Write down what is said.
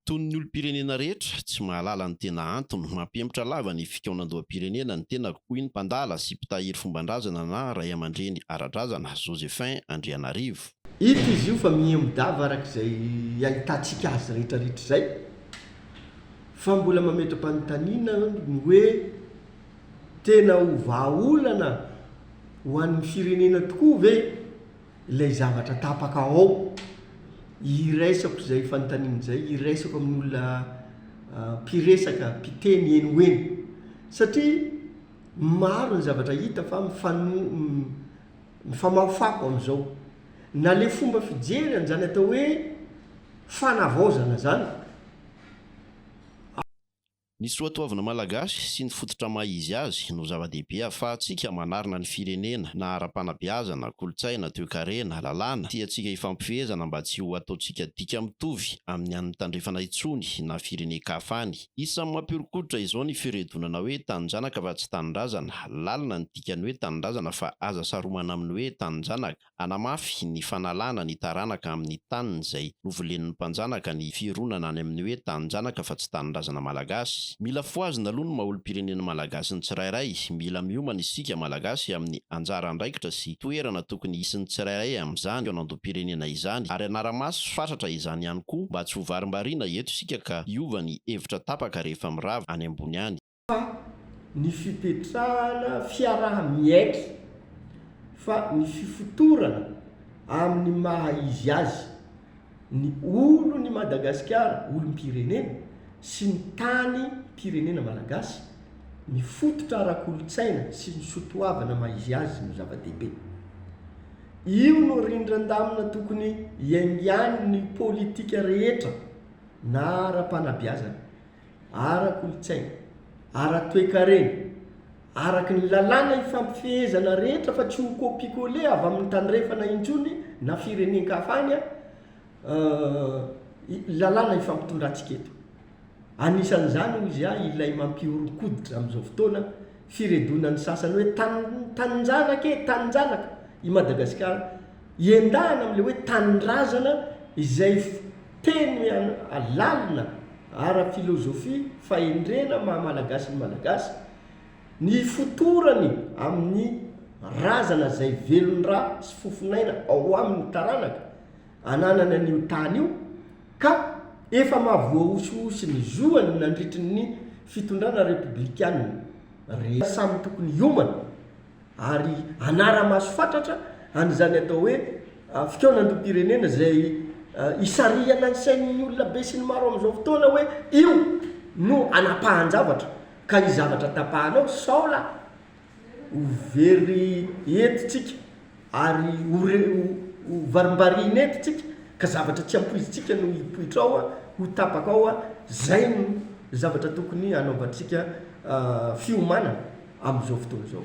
Toy ny olom-pirenena rehetra, tsy mahalala ny tena antony mampihemotra lava ny fikaonandoham-pirenena ny tenako, hoy ny mpandala sy mpitahiry fomban-drazana na raiamandreny ara-drazana, Josephin Andrianarivo. Hita izy io fa mihemodav araka izay ahitantsika azy rehetrarehetra izay, fa mbola mametra-panontaniana aho ny hoe, tena ho vahaolana ho an'ny firenena tokoa ve? Ilay zavatra tapaka ao, iraisako izay fanontaniana izay, iraisako amin'ny olona mpiresaka, mpiteny eny ho eny. Satria maro ny zavatra hita fa mifano, mifamafako amin'izao. Na ilay fomba fijery an'izany atao hoe fanavaozana izany, Ny soatoavina malagasy sy ny fototra maha izy azy no zava-dehibe ahafahantsika manarina ny firenena na ara-panabeazana, kolontsaina, toekarena, lalàna, tiantsika hifampifehezana mba tsy ho ataontsika dika mitovy amin'ny an'ny tandrefana intsony na firenen-kafa any. Isan'ny mampihoron-koditra izao ny firedonana hoe taninjanaka fa tsy tanindrazana. Lalina ny dikan'ny hoe tanindrazana fa aza saromana amin'ny hoe taninjanaka. Hanamafy ny fanalana ny taranaka amin'ny taniny izay novolen'ny mpanjanaka ny fironana any amin'ny hoe taninjanaka fa tsy tanindrazana malagasy. Mila fohazina aloha ny maha-olom-pirenena malagasy ny tsirairay. Mila miomana isika malagasy amin'ny anjara andraikitra sy toerana tokony hisy ny tsirairay amin'izany fanandoam-pirenena izany ary hanara-maso fatratra izany ihany koa mba tsy ho varimbariana eto isika ka hiova ny hevitra tapaka rehefa mirava any ambony any. fa ny fipetrahana fiaraha-miaiky fa ny fifotorana amin'ny maha izy azy ny olon' i Madagasikara, olom-pirenena, sy ny tany, mpirenena malagasy, mifototra ara-kolontsaina sy ny sotoavana maha izy azy no zava-dehibe. Io no rindran-damina tokony iaingan'ny politika rehetra na ara-panabeazana ara-kolontsaina, ara-toekarena, araky ny lalàna ifampifehezana rehetra fa tsy ho copier-coller avy amin'ny tandrefana intsony na firenen-kafa any an, lalàna ifampitondrantsika eto. Anisan'izany hoy izy ahy ilay mampihoron-koditra amin'izao fotoana, firedonan'ny sasany hoe tanin-janaka e, tanin-janaka i Madagasikara, iendahana amin'ilay hoe tanindrazana izay fiteny lalina ara-filozofia fahendrena ny maha-malagasy ny Malagasy, ny ifotorany amin'ny razana izay velon-dra sy fofon'aina ao amin'ny taranaka, ananany an'io tany io ka efa mahavoahosihosy ny zoany nandritry ny fitondrana repoblikana rehetra. Samy tokony hiomana ary hanara-maso fatratra an'izany atao hoe fikaonandoham-pirenena izay isarihana ny sain'ny olona be sy ny maro amin'izao fotoana hoe io no anapahan-javatra ka izavatra tapahanao sao la Ho very eto tsika ary ho varimbariana eto tsika ka zavatra tsy ampoizintsika no hipoitra ao, ho tapaka ao, zay no zavatra tokony hanaovantsika fiomanana amin'izao fotoana izao.